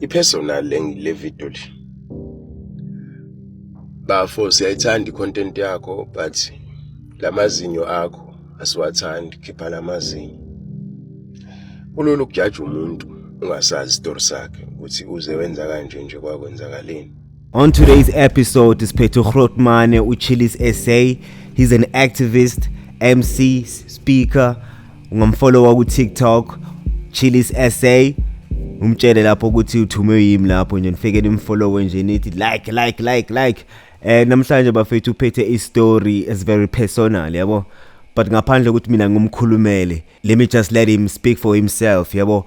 I-personal le video le. Bafo siyayithanda i-content yakho but lamazinyo akho asiwathandi khipha lamazinyo. Kulula ukujaja umuntu ungasazi isitori sakhe ukuthi uze wenza kanje nje kwakwenzakaleni. On today's episode, Siphethu Grotmane, Uchilis SA. He's an activist, MC, speaker, ungamfollowa ku-tiktok chilis sa umtshele lapho ukuthi uthume yimi lapho nje nifike nimfollowe nje nithi like like like like eh namhlanje bafethu uphethe istory is very personal yabo but ngaphandle ukuthi mina ngumkhulumele let me just let him speak for himself yabo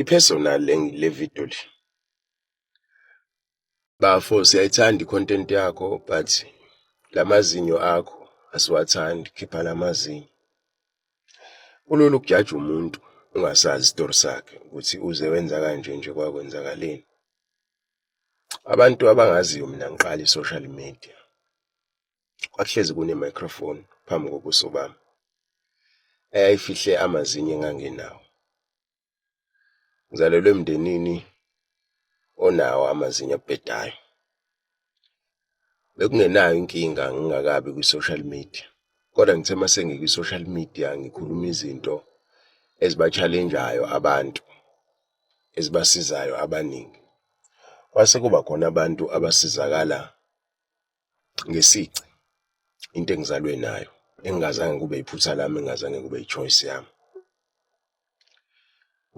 I-personal le- le video le. Bafo siyayithanda i-content yakho but lamazinyo akho asiwathandi khipha lamazinyo. Kulula ukujaja umuntu ungasazi isitori sakhe ukuthi uze wenza kanje nje kwakwenzakaleni. Abantu abangaziyo mina ngiqala i-social media kwakuhlezi kune-microphone phambi kobuso bami eyayifihle amazinyo engangenawo. Ngizalelwe emndenini onawo amazinyo abhedayo. Bekungenayo inkinga ngingakabi kwi-social media, kodwa ngithe uma sengikwi-social media ngikhuluma izinto eziba-challenge-ayo abantu, ezibasizayo abaningi. Kwase kuba khona abantu abasizakala ngesici into engizalwe nayo engingazange kube iphutha lami engingazange kube i-choice yami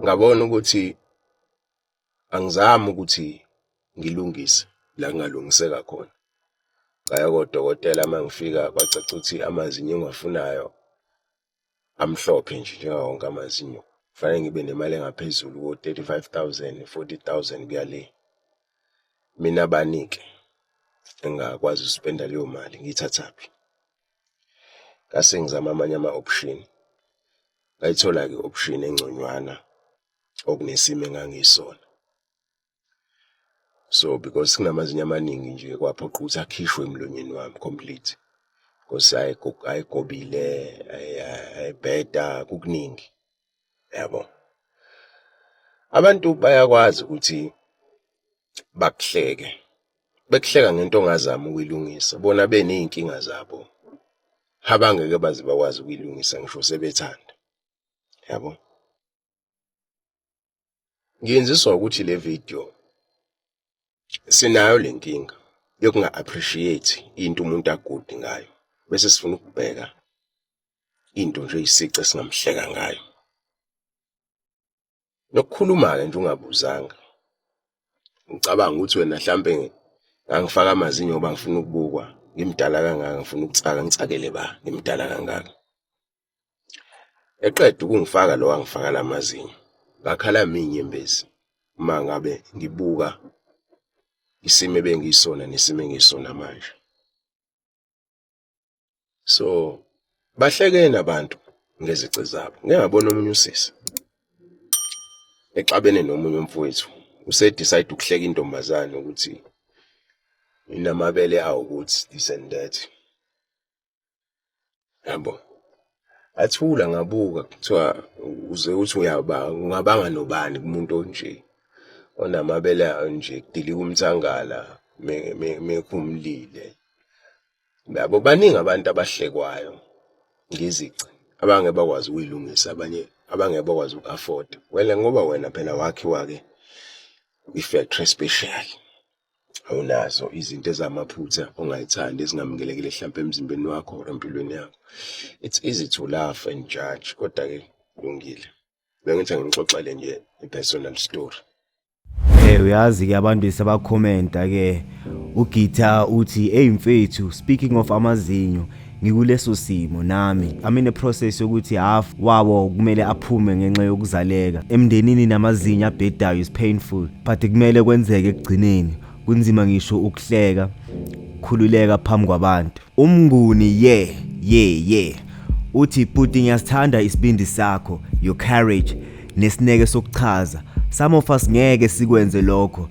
ngabona ukuthi angizami ukuthi ngilungise la ngingalungiseka khona ngaya kodokotela uma ngifika kwacaca ukuthi amazinyo engiwafunayo amhlophe nje njengawo wonke amazinyo kufanele ngibe nemali engaphezulu ko-thirty-five thousand, forty thousand kuya le. Mina bani-ke engingakwazi ukuspenda leyo mali ngiyithathaphi? Ngase ngizama amanye ama-option, ngayithola-ke i-option engconywana okunesimo engangiyisona. so because sinamazinyo amaningi nje kwaphoqa ukuthi akhishwe emlonyeni wami complete because ayigobile ayibheda kukuningi yabo abantu bayakwazi ukuthi bakuhleke bekuhleka ngento ongazami ukuyilungisa bona beney'nkinga zabo abangeke baze bakwazi ukuyilungisa ngisho sebethanda yabo Ngiyenziswa ukuthi le video sinayo le nkinga yokunga-appreciate into umuntu agudi ngayo bese sifuna ukubheka into nje isici esingamhleka ngayo nokukhuluma-ke nje ungabuzanga ngicabanga ukuthi wena mhlampe ngangifaka amazinyo ngoba ngifuna ukubukwa ngimdala kangaka ngifuna ukutsaka ngitsakele ba ngimdala kangaka Eqeda ukungifaka lo wangifaka la mazinyo ngakhala minyembezi uma ngabe ngibuka isimo ebengiyisona nesimo engisona manje so bahlekene abantu ngezici zabo ngiyabona omunye usisi exabene nomunye umfowethu use decide ukuhleka intombazane ukuthi inamabele awo ukuthi this and that yabo athula ngabuka kuthiwa uze uthi uyaba ungabanga nobani kumuntu onje onamabele nje kudilika umthangala mekhumlile yabo baningi abantu abahlekwayo ngezici abange bakwazi ukuyilungisa abanye abange bakwazi uku-afforda wena ngoba wena phela wakhiwa-ke i-factory special. awunazo izinto ezamaphutha ongayithandi ezingamukelekile hlampe emzimbeni wakho or empilweni yakho it's easy to laugh and judge kodwa ke kulungile bengithi ngixoxele nje i-personal story Eh uyazi ke abantu sebakhomenta ke uGita uthi hey mfethu speaking of amazinyo ngikuleso simo nami I'm in a process yokuthi half wawo kumele aphume ngenxa yokuzaleka emndenini namazinyo abhedayo is painful but kumele kwenzeke ekugcineni kunzima ngisho ukuhleka khululeka phambi kwabantu umnguni ye yeah, ye yeah, ye yeah. uthi puti ngiyasithanda isibindi sakho your courage nesineke sokuchaza some of us ngeke sikwenze lokho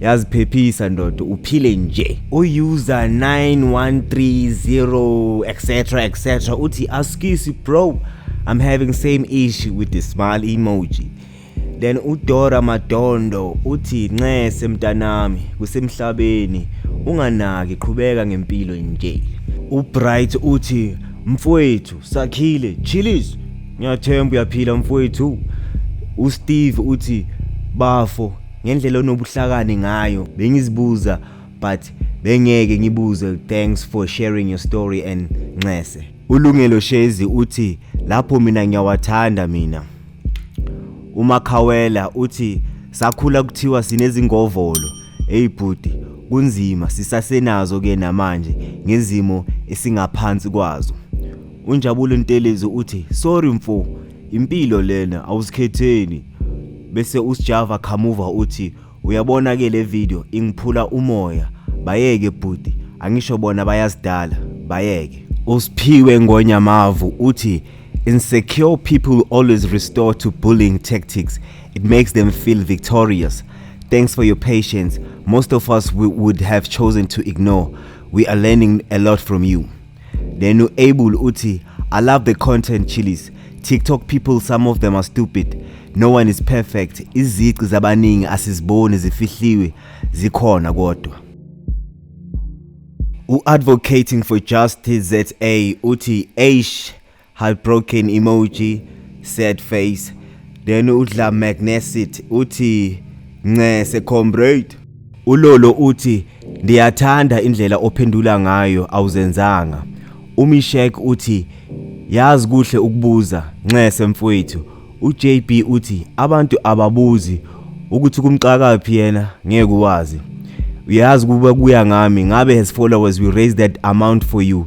yaziphephisa ndoda uphile nje user 9130 etc etc uthi askisi bro i'm having same issue with the smile emoji then udora madondo uthi nxese mntanami kusemhlabeni unganaki qhubeka ngempilo nje ubright uthi mfowethu sakhile chillis ngiyathemba uyaphila mfowethu usteve uthi bafo ngendlela onobuhlakani ngayo bengizibuza but bengeke ngibuze thanks for sharing your story and nxese ulungelo shezi uthi lapho mina ngiyawathanda mina umakhawela uthi sakhula kuthiwa sinezingovolo eyibhuti kunzima sisasenazo ke namanje ngezimo esingaphansi kwazo unjabulo ntelezi uthi sorry mfo impilo lena awuzikhetheni bese usijava khamuva uthi uyabona ke le video ingiphula umoya bayeke bhuti angisho bona bayazidala bayeke uSphiwe Ngonyamavu uthi insecure people always restore to bullying tactics it makes them feel victorious thanks for your patience most of us we would have chosen to ignore we are learning a lot from you Then uAble uthi I love the content chilies. TikTok people some of them are stupid. No one is perfect. Izici zabaningi asiziboni zifihliwe zikhona kodwa. U-advocating for justice ZA uthi eish heartbroken emoji sad face then udla magnesit uthi ncese comrade ulolo uthi ndiyathanda indlela ophendula ngayo awuzenzanga umishek uthi yazi kuhle ukubuza ncese mfowethu uJB uthi abantu ababuzi ukuthi kumxakaphi yena ngeke uwazi uyazi kuba kuya ngami ngabe has followers we raise that amount for you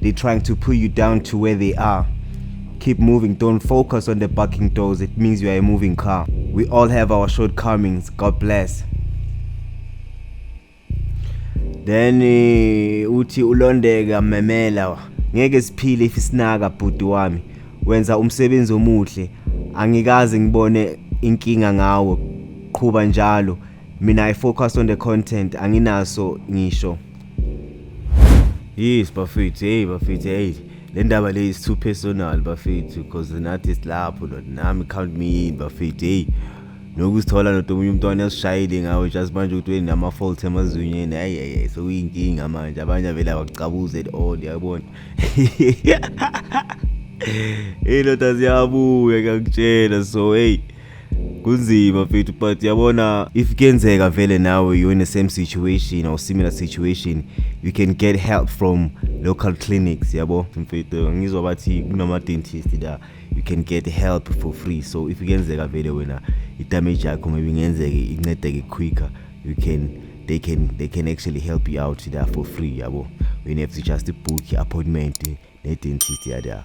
They trying to pull you down to where they are. Keep moving, don't focus on the barking doors, it means you are a moving car. We all have our shortcomings, God bless. Then eh, uthi ulondeka memela ngeke siphile if isinaka bhuti wami wenza umsebenzi omuhle angikaze ngibone inkinga ngawo qhuba njalo mina i focus on the content anginaso ngisho yes bafethu hey bafethu hey le ndaba le is too personal bafethu because nathi silapho nami count me in bafethu hey nokusithola noda omunye umntwana esishayile ngawo just manje ukuthi wenama-fault emazinyeni hayi hayi sokuyinkinga manje abanye avele abakucabuza at all yabona iy'ndoda ziyabuya ngiyakutshela so heyi hey. kunzima mfethu but yabona if kuyenzeka vele nawe you're in the same situation or similar situation you can get help from local clinics yabo mfethu ngizwa bathi kunama-dentist la you can get help for free so if kuyenzeka vele wena idamage yakho maybe ngenzeke incedeke quicker you can they can they can actually help you out there for free yabo you have to just book appointment ne-dentist yada